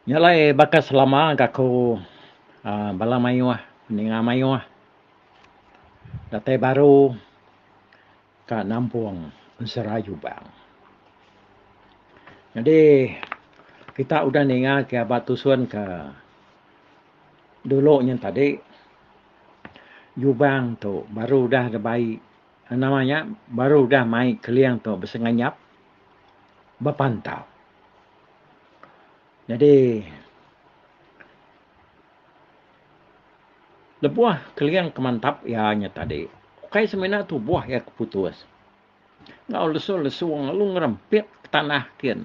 Nya alai baka selama ga aku aaa bala mayuh ninga mayuh datai baru ka nampung serayu bang. Nyadi kita udah ninga ke ba tusun ke dulu nya tadi nyubang tu baru udah da bai Nama nya baru udah mai Keling tu besenganyap bepantau. Nyadi lebuh Keling ke mantap iya nya tadi ukai semina tubuh iya ke putus enggau lesu-lesung lalu ngerempit ke tanah kin.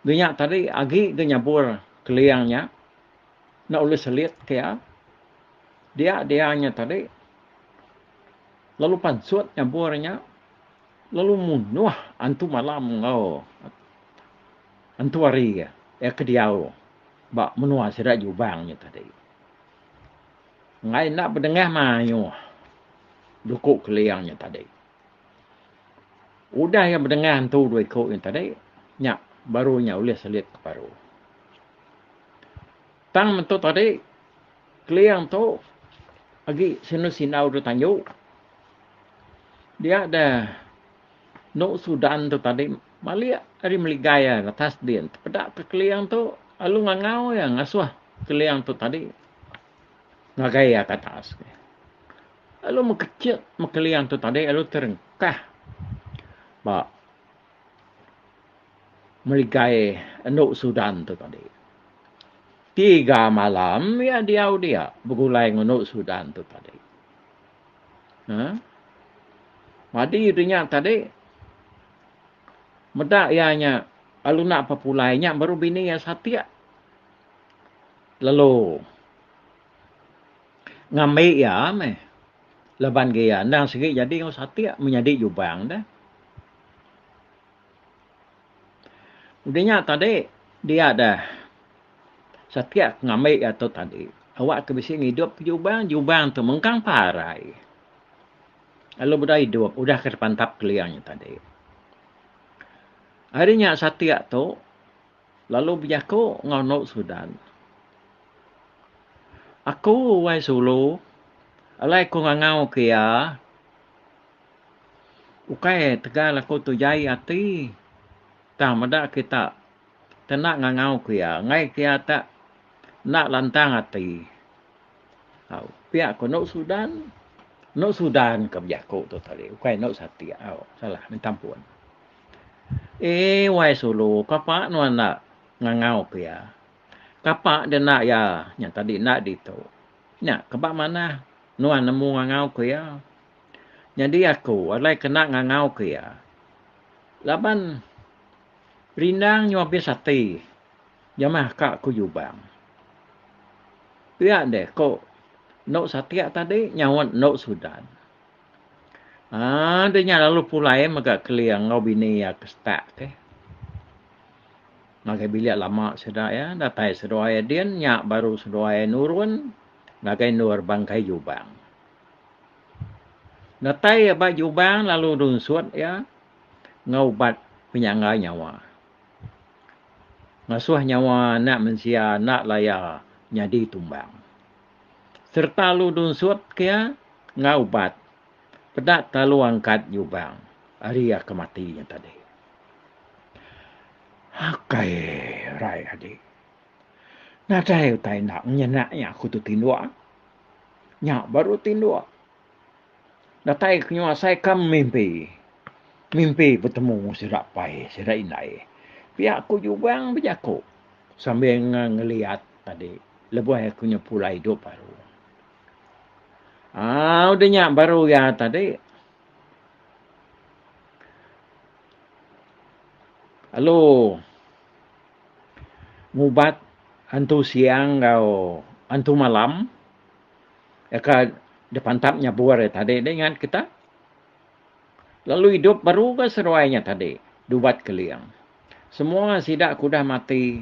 Di nya tadi agi ke nyabur Keling nya enda ulih selit ke iya. Dia dia nya tadi lalu pansut nyabur nya lalu munuh antu malam enggau antu hari iya ke diau ba menua sida Jubang nya tadi. Enggai enda bedengah mayuh duku Keling nya tadi. Udah iya bedengah antu dua iku nya tadi, nya baru iya ulih selit ke baru. Tang metu tadi, Keling tu agi sinu sindau tu tanyu. Dia da nu sudan tu tadi malik ari meligai iya latas din tepeda ke keling tu lalu ngangau iya ngasuh keling tu tadi ngagai iya ke atas ke. Lalu mekechit me keling tu tadi lalu terengkah ba meligai endu sudan tu tadi. Tiga malam iya diau dia begulai ngunu Sudan tu tadi. Ha? Madi dia nya tadi meda iya nya lalu nak pepulai nya baru bini iya satik. Lalu ngambi iya meh. Laban ke iya endang sigi jadi enggau satik menyadi jubang dah. Udah nya tadi dia deh satik ke ngambi iya tu tadi awak ke bisi ngidup ke jubang, jubang tu mengkang parai lalu udah idup udah ke dipantap keling nya tadi. Ari nya satik tu lalu bejaku enggau enu Sudan. Aku wai Sulu alai ku ngangau ke iya. Ukai tegal aku tu jai ati tang meda kita kena ngangau ku iya enggai ke iya tak enda lantang ati. Au pia ku enu sudan enu sudan ke bejaku tu tadi ukai enu satik au salah minta ampun. Ee wai sulu kapa nuan enda ngangau ku iya kapa dina iya nyau tadi enda ditu nya ke ba manah nuan nemu ngangau ku iya. Nyadi aku alai kena ngangauka iya laban rindang nyau abis ati nyamah ka ku Jubang. Pia deh ko endo Satik tadi nyaut endo Sudan. Aaa deh nya lalu pulai mega kelia enggau bini iya ke setak ke. Ngagai bilik lama sida iya datai seduai din nya baru seduai nurun ngagai endur bangkai Jubang. Datai iya ba Jubang lalu nunsut iya enggau ubat penyangga nyawa. Ngasuh nyawa anak mensia enda laya nyadi tumbang. Sereta lalu nunsut ke iya enggau ubat peda telalu angkat Jubang ari iya ke mati nya tadi. Akai raye adi. Nadai utai enda ngenyena iya aku tu tinduk. Nya baru tinduk. Datai ke nyuai asai kam mimpi. Mimpi betemu sida pai, sida indai. Pia aku Jubang bejaku sambil ngeliat tadi lebuh aku nya pulai idup baru. Ah, udah nya baru iya tadi. Lalu ngubat antu siang enggau antu malam ka dipantap nyabur iya tadi dah ingat kita. Lalu idup baru ga seduai nya tadi dubat keling. Semua sida ke udah mati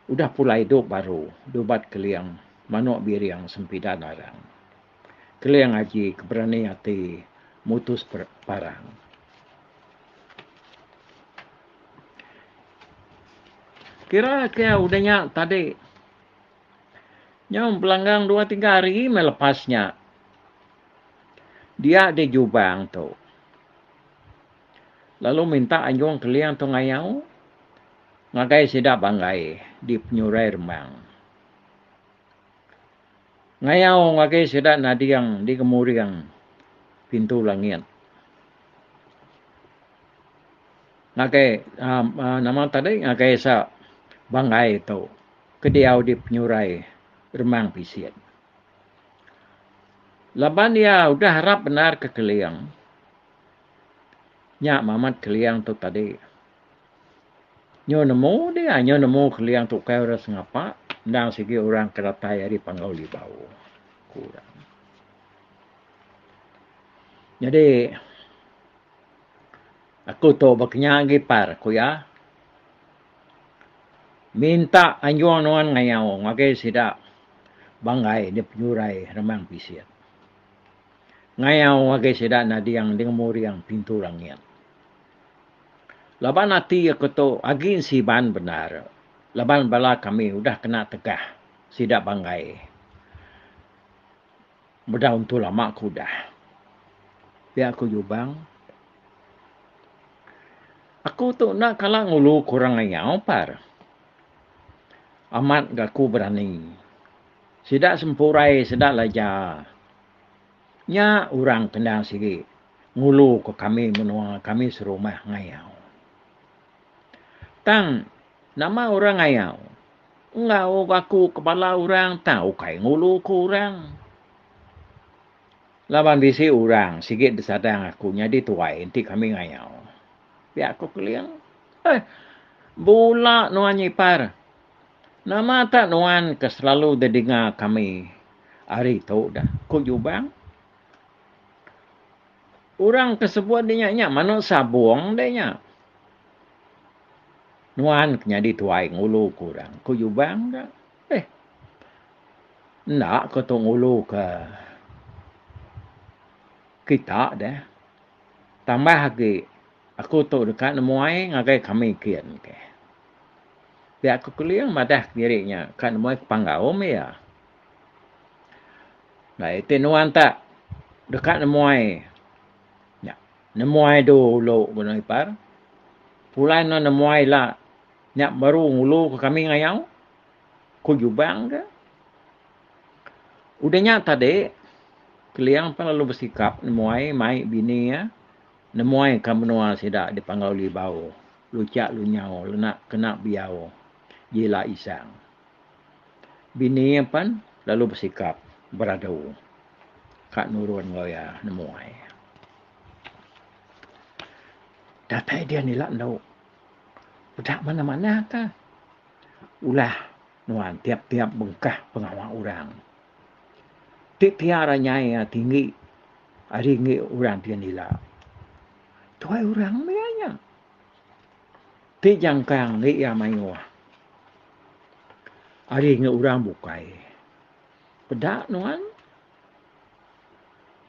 udah pulai idup baru dubat keling manuk biring sempida narang. Keling aji ke berani ati mutus parang. Kira kira udah nya tadi. Nyau belanggang dua tiga hari mai lepas nya. Dia di Jubang tu. Lalu minta anjung keling tu ngayau ngagai sida banggai di penyurai rembang. Ngayau agi sida nading di ngemuring pintu langit. Ngagai uhh nama tadi ngagai esa banggai tu ke diau di penyurai Remang Pisin. Laban iya udah arap bendar ke Keling nya Mamat Keling tu tadi Nyu nemu dia, nyu nemu keliang tukai orang sengapa endang sigi orang ke datai ari Panggau Libau, ku orang. Nyadi aku tu baka nya agi par ku iya minta anjung nuan ngayau ngagai sida banggai nya penyurai Remang Pisit. Ngayau ngagai sida nading di ngemuriang pintu langit. Laban ati aku tu agi siban bendar laban bala kami udah kena tegah sida banggai meda untu lama ku udah. Pia ku Jubang. Aku tu enda kala ngulu ke orang ngayau par. Amat ga aku berani. Sida sempurai sida laja. Nya orang kendang sigi. ngulu ke kami menua kami serumah ngayau. Tang nama orang ngayau? Enggau aku ke bala orang tang ukai ngulu ke orang. Laban bisi orang sigi disadang aku nyadi tuai enti kami ngayau. Pia ku Keling. Eh, bula nuan Ipar. Nama tak nuan ke selalu didinga kami ari tu dah? ku Jubang. Orang ke sebut dia nya, nya manuk sabung dia nya. Nuan ke nyadi tuai ngulu ke orang, ku Jubang ka. Eh, enda ke tu ngulu ke kita deh. Tambah agi, aku tu deka nemuai ngagai kami kin ke. Pia ku Keling madah diri nya ka nemuai ke Panggaum iya. Ba iti nuan ta deka nemuai nya nemuai du ulu benung ipar pulai nuan nemuai ila nya baru ngulu ke kami ngayau ku Jubang ke. Udah nya tadi Keliang pun lalu besikap nemuai mai bini iya nemuai ka menua sida dipanggau Libau, Luchak Lunyau kena Biau ji ila Isang. Bini iya pan lalu besikap beradu ka nurun enggau iya nemu ai. Datai dian ila endu peda manah-manah ka ulah nuan tiap-tiap bengkah pengawa orang. Ti tiar nyai iya tinggi ari enggi orang dian ila. Tuai orang meh iya nya. Ti jangkang ngi iya mayuh. Ari ngi urang bukai. Peda nuan.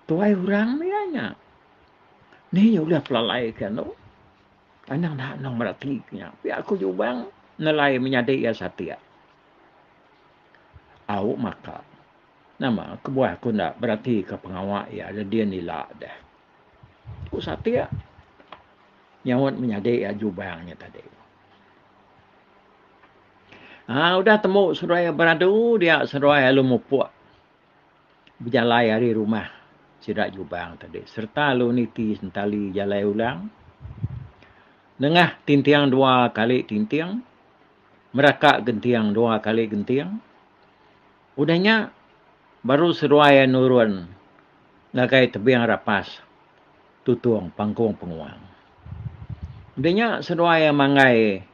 Tuai urang mia nya. Ni nya ulih pelalai ke anu. Anang da anang meda ti ke nya. Pia aku jubang nelai menyadi iya satik. Au maka. Nama kebuah aku enda beratika pengawa iya da din ila deh. Ku satik. nyaut menyadi iya jubang nya tadi. Haa udah temu seduai beradu dia seduai alu mupuk bejalai ari rumah sida jubang tadi serta alu niti sentali jalai ulang nengah tinting dua kali tinting meraka genting dua kali genting Udah nya, baru seduai iya nurun ngagai tebing rapas tutung pangkung penguang. Udah nya, seduai iya manggai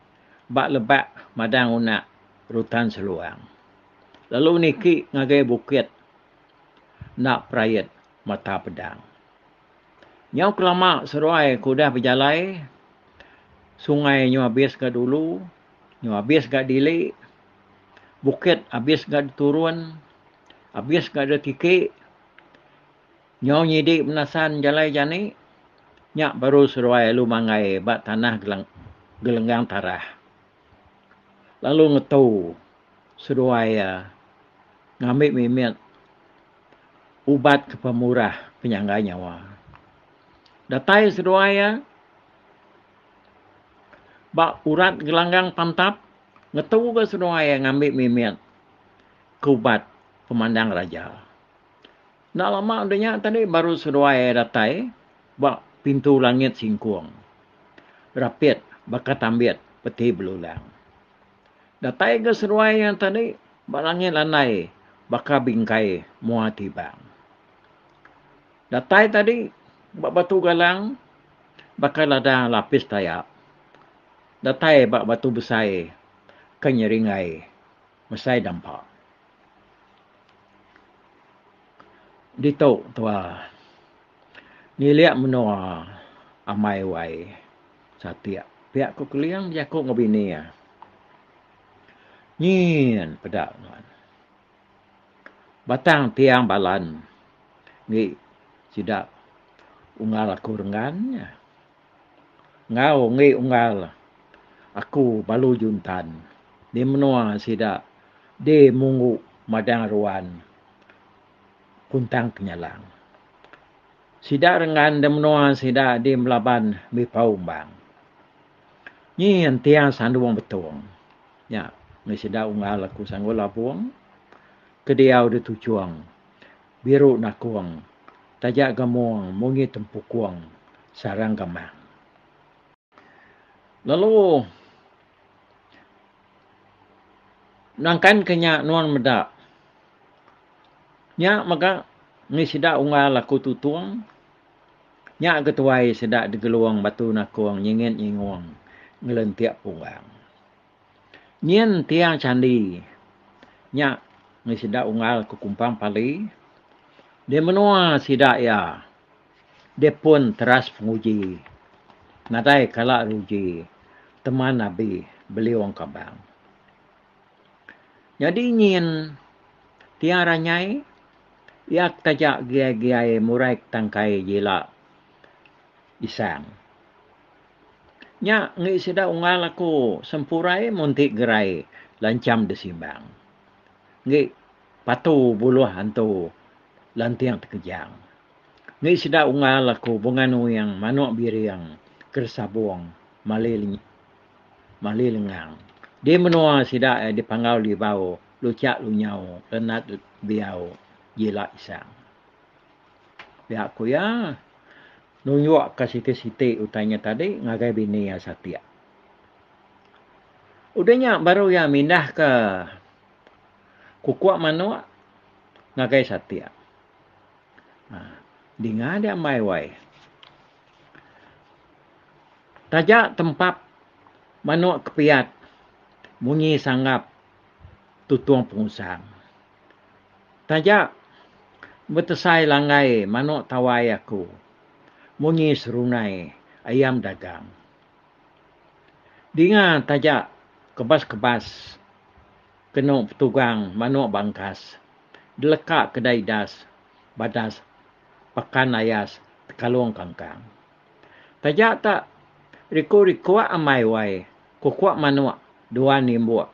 ba lebak madang unak Rutan Seluang, lalu niki ngagai bukit enda perait mata pedang. Nyau kelama seduai ke udah bejalai, sungai nyu abis ga dulu, nyu abis ga dili. bukit abis ga diturun abis ga da tiki nyau nyidi menasan jalai jani nya baru seduai alu manggai ba tanah gelenggang tarah lalu ngetu seduai iya ngambi mimit ubat ke pemurah penyangga nyawa datai seduai iya ba urat gelanggang pantap Ngetu ga seduai iya ngambi mimit ke ubat pemandang raja. Enda lama udah nya tadi baru seduai iya datai ba pintu langit singkung. Rapit baka tambit peti belulang. Datai ga seduai iya tadi ba langit landai baka bingkai mua tibang. Datai tadi ba batu galang baka lada lapis tayak. Datai ba batu besai ke nyeringai mesai dampa. Ditu tua ngilik menua amai wai satik pia ku Keling bejaku enggau bini iya. Nyin peda nuan. Batang tiang balan ngi sida unggal aku renggan nya. Enggau enggi unggal aku balu juntan di menua sida di munggu madang ruan kuntang penyalang. Sida rengan da menua sida di melaban bipau umbang. Nyi entiang sandung betung nya meh sida unggal aku sanggul labung ke diau di tuchong. Biru nakung, taja gamung munyi tempukung sarang gamang. Lalu nangkanka nya nuan meda. Nya mega mih sida unggal aku tutung. Nya ketuai sida digelung batu nakung nyingit nyingung ngelentik punggang. Nyin tiang candi nya mih sida unggal ke kumpang pali di menua sida iya di pun teras penguji nadai kala ruji teman abi beliung kabang. Nyadi nyin tiang ranyai iya ke taja giai-giai murai ke tangkai jila. Isang. Nya enggi sida unggal aku sempurai munti gerai lancham disimbang. Enggi patu buluh antu lanting tekejang. Enggi sida unggal aku bungan uing manuk biring ke desabung mali mali lengang. Di menua sida iya dipanggau libau, lucak lunyau, lenat biau, jila isang. Piak ku iya, nunjukka siti-siti utai nya tadi ngagai bini iya satik. Udah nya baru iya mindahka kukuk manuk ngagai satik. Um Dinga dia ambai wai. Taja tempap manuk ke piyat munyi sanggap tutung pengusang. Taja betesai langgai manok tawai aku munyi serunai ayam dagang. Dinga taja kebas-kebas keno petugang manok bangkas deleka kedai das badas pakan ayas tekalong kangkang. Taja tak riko-rikok amai wai kokok manok dua nimbok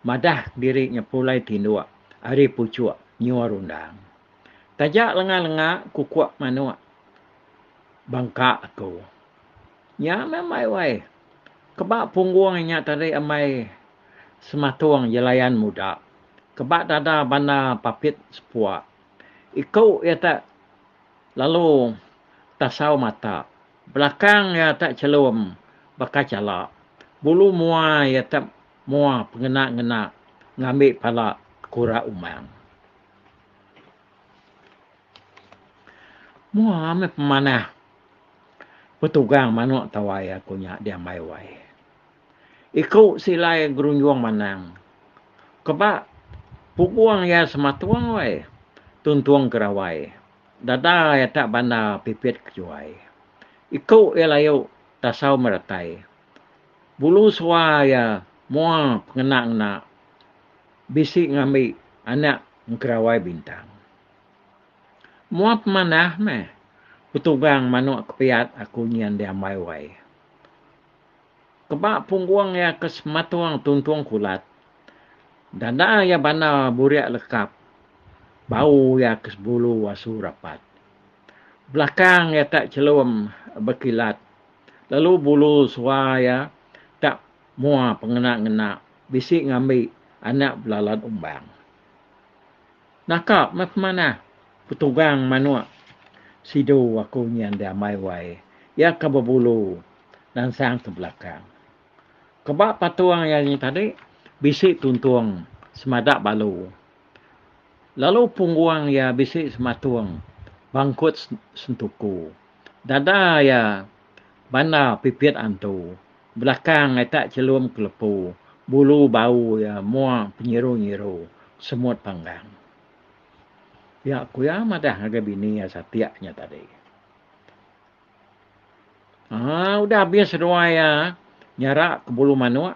madah diri nya pulai tinduk ari puchuk nyua rundang. Taja lenga-lenga kukuk manuk bangka aku. Nya meh ambai wai. Keba punggung inya tadi ambai sematung jelayan muda. Keba dada banda papit sepuk. Iku iya te lalu tasau mata. Belakang iya te chelum baka chala. Bulu mua iya te Moa pengena ngena ngambi pala kura umang. Moa meh pemanah petugang manok tawai aku nya diambai wai. Iku silai gerunjong manang. Keba pugong iya sematung wai. Tuntung ke rawai. Dada iya tak bandar pipit kejuai. Iku iya layu tasau meratai. Bulu sua iya mua pengena-ngena bisi ngambi anak engkerawai bintang. Mua pemanah meh petugang manuk kepiat aku nyin diambai wai. Keba punggung iya ke sematung tuntung kulat, dada iya bandar burik lekap, bau iya ke sebulu asu rapat. Belakang iya ka chelum bekilat. lalu bulu sua iya tak mua pengena-ngena bisi ngambi anak belalan umbang. Naka meh pemanah petugang manuk sidu aku nyin diambai wai iya ke bebulu nansang ke belakang. Ke ba patung iya nyin tadi bisi tuntung semada balu lalu punggung iya bisi sematung bangkut sentuku. Dada iya bandar pipit antu. Belakang iya tak chelum ke lepu. Bulu bau iya mung penyiru-nyiru semut panggang. Iya ku iya madah ngagai bini iya satik nya tadi. Haa udah abis seduai iya nyara ke bulu manuk.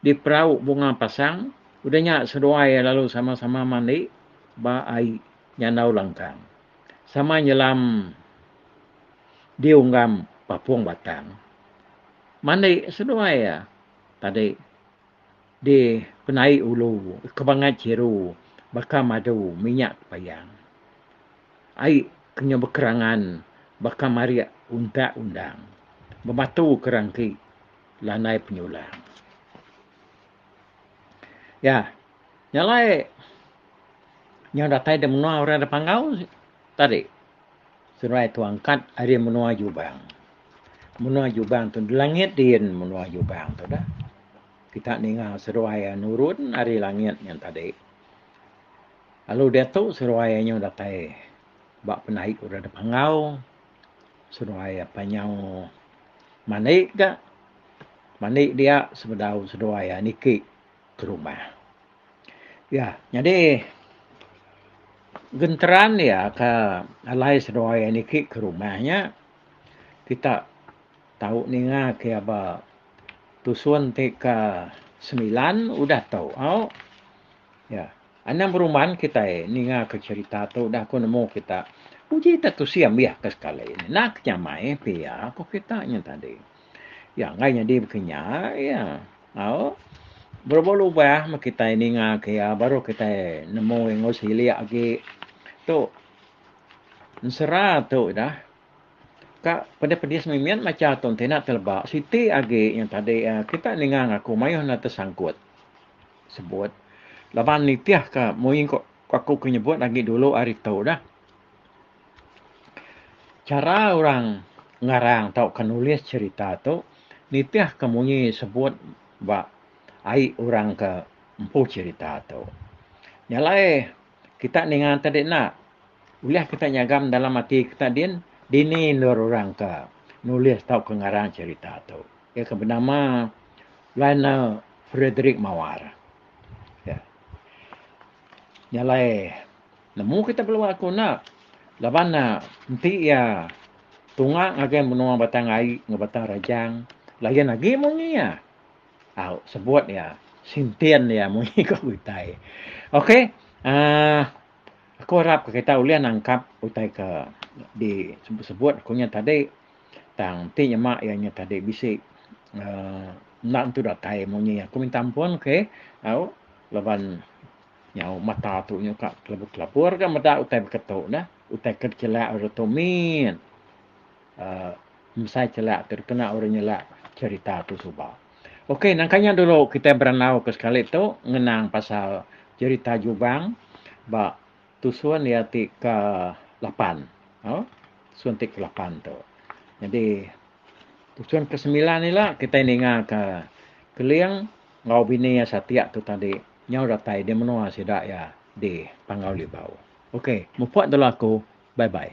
di perau Bunga Pasang, udah nya seduai iya lalu sama-sama mandi ba ai nyandau langkang sama nyelam di unggam Papung Batang. Mandi seduai iya tadi di penai ulu Kebangat Chiru baka madu minyak tepayang. Ai ke nya bekerangan baka marik untak undang, bebatu ke rangki. lanai penyulang. Ya, nya alai nyau datai da menua orang da panggau tadi seduai tu angkat ari menua Jubang. Menua Jubang tu langit din menua Jubang tu dah. Kita ninga seduai iya nurun ari langit nya tadi. Lalu diatu seduai iya nyau datai ba penaik orang da panggau. seduai apai nyau mandi ga mandi dia sebedau seduai iya niki ke rumah iya nyadi genteran iya ka alai seduai iya niki ke rumah nya kita tau ninga ke iya ba tusun ti ka semilan udah tau Ya. Anang beruman kitai ninga ke cerita tu udah ku nemu kita. Uji ita tusi ambih ke sekali. Nak nyamai pia ku kita nya tadi. Ya enggai nyadi beki nya ya. Au. Berubah lubah meh kitai ninga ke ya baru kitai nemu enggau silik agi tu ensera tu dah ka pedis pedis mimit macha tu enti nak teleba siti agi nya tadi kita ninga ngaku mayuh enda tesangkut. sebut laban nitih ke mui ko aku ke nyebut agi dulu ari tu dah cara orang ngarang tau ke nulis cerita tu nitih ke mui sebut ba ai orang ke empu cerita tu nya alai kita ninga tadi enda ulih kita nyagam dalam ati kita din dini endur orang ke nulis tau ke ngarang cerita tu iya ke benama Lionel Frederick Mawar. Ya. Nya alai nemu kita belua aku enda laban ne enti iya tunga ngagai menua Batang Ai enggau Batang Rajang lain agi munyi iya. Au sebut iya sintin iya munyi ka kitai. Okey aaa aku arap kita ulih nangkap utai ke disebut-sebut aku nya tadi. Tang ti nyema iya nya tadi bisi uhh enda nentu datai munyi aku minta ampun okay au laban nyau mata tu nyungka kelebur kelebur ga meda utai beketu neh utai ke dichelak uri tu mit uhh mesai chelak tu dikena uri nyelak cherita tu suba. Okay nangka nya dulu kitai berandau ke sekali tu ngenang pasal cherita jubang ba. Tu sun iya ti ke lapan. Au. Sun ti ke lapan tu. Nyadi tu sun ke semilan ila kitai ninga ke Keling enggau bini iya satik tu tadi nyau datai di menua sida iya di Panggau Libau. Ok. Mupok dulu aku. Bye bye.